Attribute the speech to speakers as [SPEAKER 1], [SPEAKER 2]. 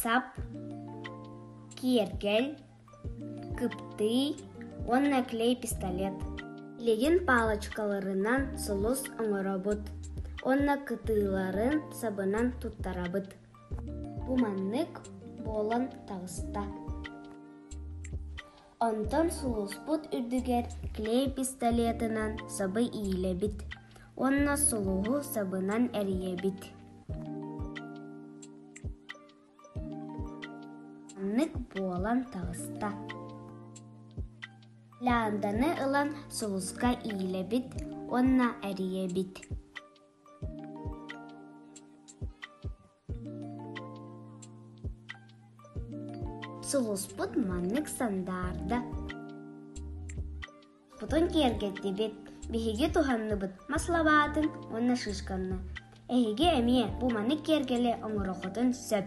[SPEAKER 1] сап, киэргэл, кыптый уонна клей пистолет. Илигин палочкаларынан сулус оҥоробут уонна кытыыларын сабынан туттарабыт. Бу маннык буолан таҕыста. Онтон сулууспут үрдүгэр клей пистолетынан сабы иилэбит уонна сулуһу сабынан эрийэбит Маннык буолан таҕыста Ланданы ылан сулуска иилэбит уонна эрийэбит сулуспут маннык сандаарда хотон киэргэттибит биһиги туһанныбыт мас лабаатын уонна шишканы эһиги эмиэ бу маннык киэргэли оҥороххутун сөп